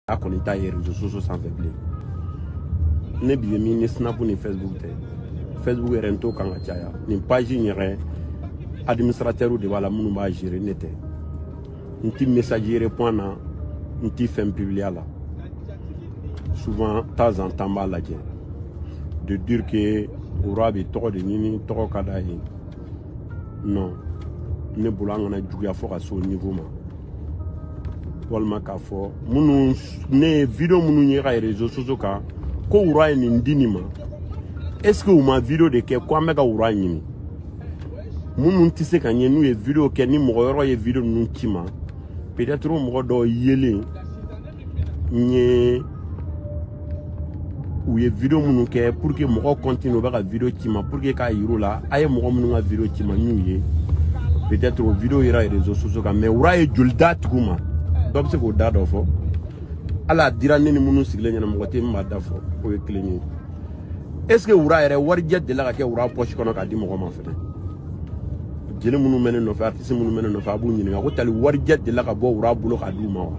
a kɔni t'a ye réseaux sociaux sanfɛ bilen ne bi ye min ni snap ni facebook tɛ facebook yɛrɛ n t'o kan ka caya nin page in yɛrɛ administratɛrw de b'a la minnu b'a gérer ne tɛ n ti message répond na n ti fɛn publier la souvent temps en temps b'a lajɛ de dire que wura bɛ tɔgɔ de ɲini tɔgɔ ka d'a ye non ne bolo an kan'a juguya fɔ ka se o niveau ma walima k'a fɔ minnu ne ye video minnu ye ka réseaux sociaux kan ko wura ye nin di nin ma est ce que u ma video de kɛ ko an bɛ ka wura ɲini minnu tɛ se ka n ye n'u ye video kɛ ni mɔgɔ wɛrɛ ye video ninnu ci n ma peut être mɔgɔ dɔw yelen n ye u ye video minnu kɛ pour que mɔgɔ continue u bɛ ka video ci n ma pour que k'a yir'u la a ye mɔgɔ minnu ka video ci n ma n y'u ye peut être o video yera réseaux sociaux kan mais wura ye joli d'a tigiw ma dɔ bɛ se k'o da dɔ fɔ hali a dira ne ni minnu sigilen ɲɛna mɔgɔ tɛ min b'a da fɔ o ye kelen ye est ce que wura yɛrɛ warijɛ delila ka kɛ wura pɔsi kɔnɔ k'a di mɔgɔ ma fɛnɛ jeli minnu bɛ ne nɔfɛ artiste minnu bɛ ne nɔfɛ a b'u ɲininka ko tali warijɛ delila ka bɔ wura bolo k'a d'u ma wa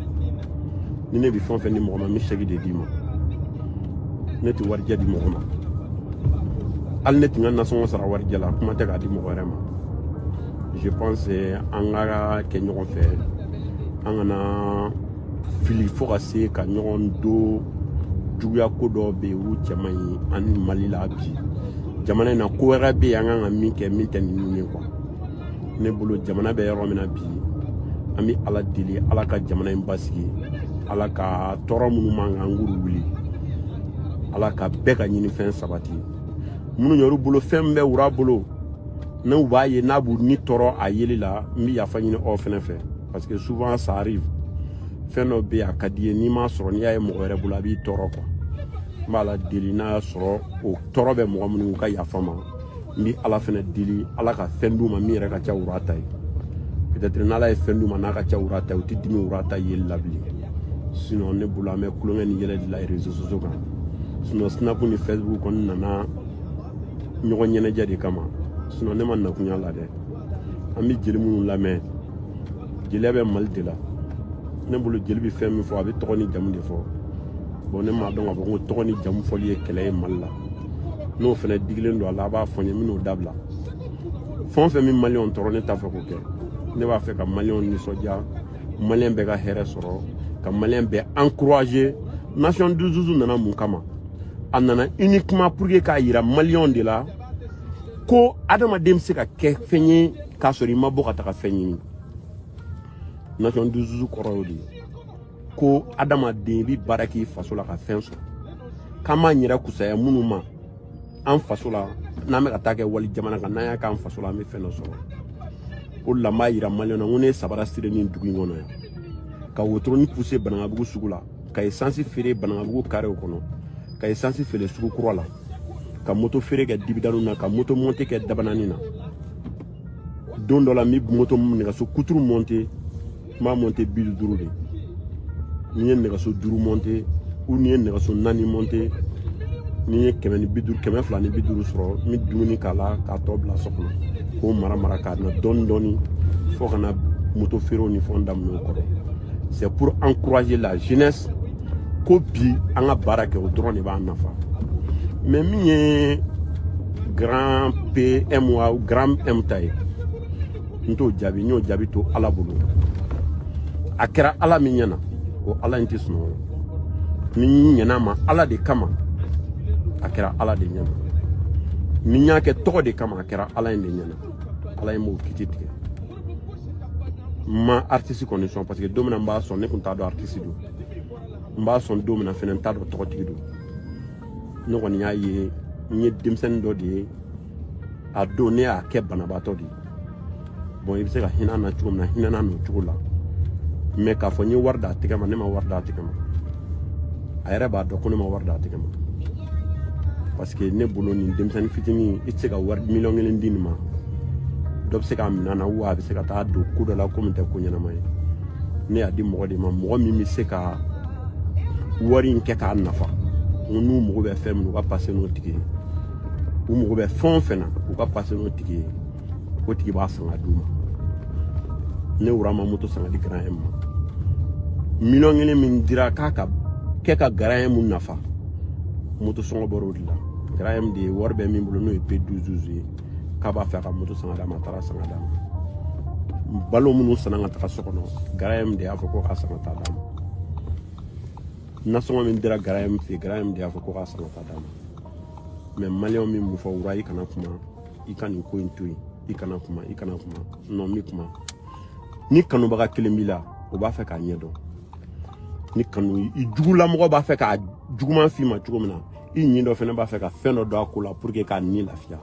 ni ne bɛ fɛn o fɛn di mɔgɔ ma n bɛ chèque de d'i ma ne tɛ warijɛ di mɔgɔ ma hali ne tɛ n ka nasɔngɔ sara warijɛ la kuma tɛ k'a di mɔgɔ wɛrɛ ma je pense an ka kɛ ɲɔgɔn fɛ an kana fili fo ka se ka ɲɔgɔn don juguya ko dɔw bɛ yen olu cɛ man ɲi ani mali la bi jamana in na ko wɛrɛ bɛ yen an kan ka min kɛ min tɛ ninnu ye quoi ne bolo jamana bɛ yɔrɔ min na bi an bɛ ala deli ala ka jamana in basigi ala ka tɔɔrɔ minnu b'an kan a k'olu wuli ala ka bɛɛ ka ɲinifɛn sabati minnu yɛrɛ bolo fɛn min bɛ wura bolo n'u b'a ye n'a b'u ni tɔɔrɔ a yeli la n bɛ yafa ɲini aw fɛnɛ fɛ parce que souvent ça arrive fɛn dɔ bɛ yen a ka d'i ye n'i m'a sɔrɔ n'i y'a ye mɔgɔ wɛrɛ bolo a b'i tɔɔrɔ quoi n b'ala deli n'a y'a sɔrɔ o tɔɔrɔ bɛ mɔgɔ minnu ka yafa n ma n bɛ ala fɛnɛ deli ala ka fɛn d'u ma min yɛrɛ ka ca wura ta ye peut-être n'ala ye fɛn d'u ma n'a ka ca wura ta ye u tɛ dimi wura ta yeli la bilen sinon ne bolo an bɛ tulonkɛ ni yɛlɛ de la réseaux sociaux kan sinon snap ni facebook kɔni nana ɲɔgɔn ɲɛnajɛ de kama sinon ne ma na kɔniya la dɛ an bɛ jeli minnu lamɛn jeliya bɛ mali de la ne bolo jeli bɛ fɛn min fɔ a bɛ tɔgɔ ni jamu de fɔ bon ne m'a dɔn k'a fɔ ko tɔgɔ ni jamu fɔli ye kɛlɛ ye mali la n'o fɛnɛ digilen don a la a b'a fɔ n ye n bɛn'o dabila fɛn o fɛn bɛ maliyɛnw tɔɔrɔ ne t'a fɛ k'o kɛ ne b'a fɛ ka maliyɛnw nisɔndiya maliyɛn bɛɛ ka hɛrɛ sɔrɔ ka maliyɛn bɛɛ encourager nation du zuzu nana mun kama a nana uniquement pour que k'a yira maliyɛnw de la ko adamaden bɛ se ka kɛ fɛn ye k'a sɔrɔ i ma bɔ ka taga fɛn ɲini nation dususu kɔrɔ y'o de ye ko adamaden i bɛ baara k'i faso la ka fɛn sɔrɔ k'an b'an yɛrɛ kusaya minnu ma an faso la n'an bɛ ka taa kɛ wali jamana kan n'an y'a k'an faso la an bɛ fɛn dɔ sɔrɔ o de la n b'a yira maliyɛnw na n ko ne ye sabara siri nin dugu in kɔnɔ yan ka wotoroni puse banankabugu sugu la ka esansi feere banankabugu karew kɔnɔ ka esansi feere sugu kura la ka moto feere kɛ dibidani na ka moto monte kɛ dabanani na don dɔ la n bɛ moto nɛgɛso kuturu monte n b'a monte bi duuru de n'i ye nɛgɛso duuru monte u n'i ye nɛgɛso naani monte n'i ye kɛmɛ ni bi duuru kɛmɛ fila ni bi duuru sɔrɔ n bɛ dumuni k'a la k'a tɔ bila so kɔnɔ k'o mara mara k'a na dɔɔni dɔɔni fo ka na moto feerew ni fɛnw daminɛ o kɔrɔ c'est pour encourager la jeunesse ko bi an ka baara kɛ o dɔrɔn de b'an nafa mɛ min ye grand pm wa grand m ta ye n t'o jaabi n y'o jaabi to ala bolo a kɛra ala min ɲɛna o ala in tɛ sunɔgɔ ni n ɲɛn'a ma ala de kama a kɛra ala de ɲɛna ni n y'a kɛ tɔgɔ de kama a kɛra ala in de ɲɛna ala in b'o kiti tigɛ n ma aritisi kɔni sɔn parce que don min na n b'a sɔn ne tun t'a dɔn aritisi don n b'a sɔn don min na fɛnɛ n t'a dɔn tɔgɔtigi don ne kɔni y'a ye n ye denmisɛnnin dɔ de ye a don ne y'a kɛ banabaatɔ de ye bɔn i bɛ se ka hinɛ na cogo min na hinɛ na n'o cogo la mɛ k'a fɔ n ye wari d'a tɛgɛ ma ne ma wari d'a tɛgɛ ma a yɛrɛ b'a dɔn ko ne ma wari d'a tɛgɛ ma parce que ne bolo nin denmisɛnnin fitinin i tɛ se ka wari miliyɔn kelen di nin ma dɔ bɛ se k'a minɛ na wa a bɛ se ka taa don ko dɔ la ko min tɛ ko ɲɛnama ye ne y'a di mɔgɔ de ma mɔgɔ min bɛ se ka wari in kɛ k'a nafa n ko n'u mago bɛ fɛn min u ka pase n'o tigi ye u mago bɛ fɛn o fɛn na u ka pase n'o tigi ye o tigi b'a san ka d'u ma ne wura ma moto san ka di grand m ma miliyɔn kelen min dira k'a k'a kɛ ka grand m nafa moto sɔngɔ bɔr'o de la grand m de wari bɛ min bolo n'o ye p 12 ye k'a b'a fɛ a ka moto san ka d'a ma a taara san ka d'a ma balo minnu sanna ka taga so kɔnɔ grand m de y'a fɔ ko k'a san ka taa d'a ma nasɔngɔ min dira grand m fɛ grand m de y'a fɔ ko k'a san ka taa d'a ma mɛ maliyɛnw bɛ mun fɔ wura i kana kuma i ka nin ko in to yen i kana kuma i kana kuma nɔ n bɛ kuma ni kanubaga kelen b'i la o b'a fɛ k'a ɲɛ dɔn ni kanu i jugulamɔgɔ b'a fɛ k'a juguman f'i ma cogo min na i ɲin dɔ fana b'a fɛ ka fɛn dɔ dɔn a ko la pour que k'a ni lafiya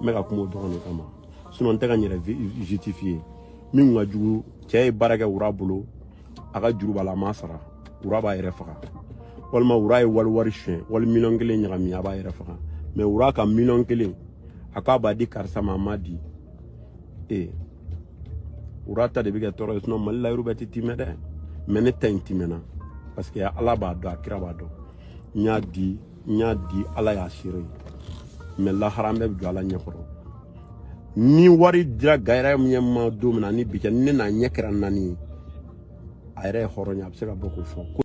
n bɛ ka kuma o dɔrɔn de kama sinon n tɛ ka n yɛrɛ justifier min ka jugu cɛ ye baara kɛ wura bolo a ka juru b'a la a m'a sara wura b'a yɛrɛ faga walima wura ye wali wari suɲɛ wali miliyɔn kelen ɲagami a b'a yɛrɛ faga mais wura ka miliyɔn kelen a k'a b'a di karisa ma a m'a di ee wura ta de bɛ kɛ tɔɔrɔ ye sinon mali la yɔrɔ bɛɛ tɛ timɛ dɛ mais ne ta in timɛna parce que ala b'a dɔn a kira b'a dɔn n y'a di n y'a di ala y'a seere ye mais lahara an bɛɛ bɛ jɔ ala ɲɛ kɔrɔ ni wari dira gayɛrɛ ɲɛ ma don min na ni bi kɛ ni ne n'a ɲɛ kɛra naani ye a yɛrɛ ye hɔrɔnya a bɛ se ka bɔ k'o fɔ